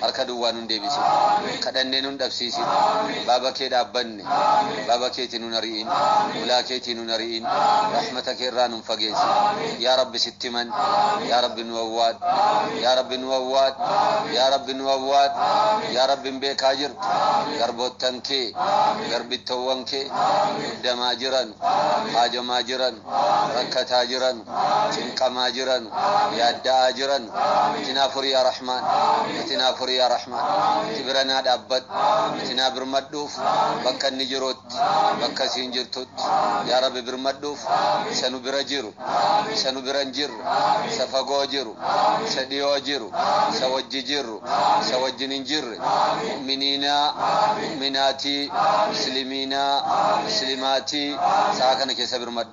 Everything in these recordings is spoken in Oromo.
harka duwwaa nun deebisin. Kadhannee nun dhabsiisin. Baaba kee dhaabbanne. Baaba keetii nun ari'in. Hulaa keetii nun ari'in. Rahmata kee irraa nun fageessin. Yaa Rabbi sitti manne. Yaa Rabbi nu awwaadhu. Yaa Rabbi nu awwaadhu. Yaa Rabbi nu awwaadhu. Yaa Rabbi hin beekaa jirtu. Garboottan kee, garbittoowwan kee muddamaa jiranu. Haajomaa jiranu. Rakkataa jiranu. cinqamaa jiranu yaadda'aa jiranu itti naa furi yaa rahmaan itti naa furi yaa rahmaan itti bira naa dhaabbadhu itti naa birmadhuuf bakka inni jirutti bakka isiin jirtutti yaa rabbi birmadhuuf isa nu bira jiru isa nu bira hin jirre isa fagoo jiru isa dhiyoo jiru isa wajji jirru isa wajjin hin jirre mu'miniinaa mu'minaatii muslimiinaa muslimaatii sa'a kana keessa birmadhu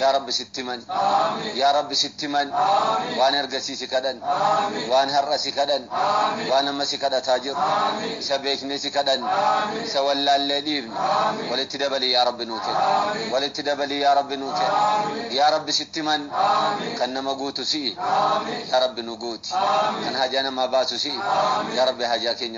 yaa rabbi sitti himan yaa rabbi sitti himan waan ergasii si kadhan waan har'a si kadhan waan amma si kadhataa jiru isa beeknee si kadhan isa wallaallee dhiifne walitti dabalii yaa rabbi nuu kenni walitti dabalii yaa rabbi nuu kenni yaa rabbi sitti himan kan nama guutu si'i yaa rabbi nu guuti kan hajaa namaa baasu si'i yaa rabbi hajaa keenya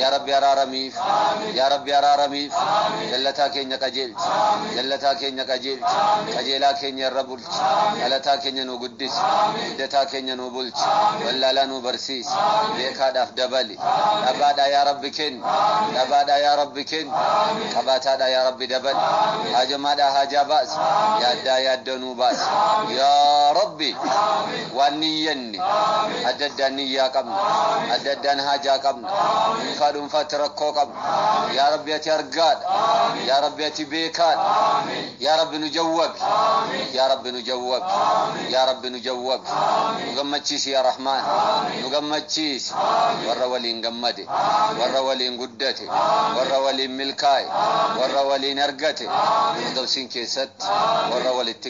yaa rabbi araaramiif yaa rabbi araaramiif jallataa keenya qajeelchi jallataa keenya qajeelchi qajeelaa keenya irra bulchi dhalataa keenya nu guddisi guddataa keenya nu bulchi wallaalaa nu barsiisi beekaadhaaf dabali dhabaadhaa yaa rabbi kenni dhabaadhaa yaa rabbi kenni qabaataadhaa yaa rabbi dabali haajamaadhaa haajaa baasi yaaddaa yaaddoo nu baasi yaa rabbi waan niyyanne qabne adda addaan niyyaa qabna adda addaan haajaa qabna dhuunfaa dhuunfaatti rakkoo qabna yaa rabbi ati argaadha yaa rabbi ati beekaadha yaa rabbi nu jawwabi yaa rabbi nu jawwabi yaa rabbi nu jawwabi nu gammachiisi yaa rahmaan nu gammachiisi warra waliin gammade warra waliin guddate warra waliin milkaa'e warra waliin argate firdawsiin keessatti warra walitti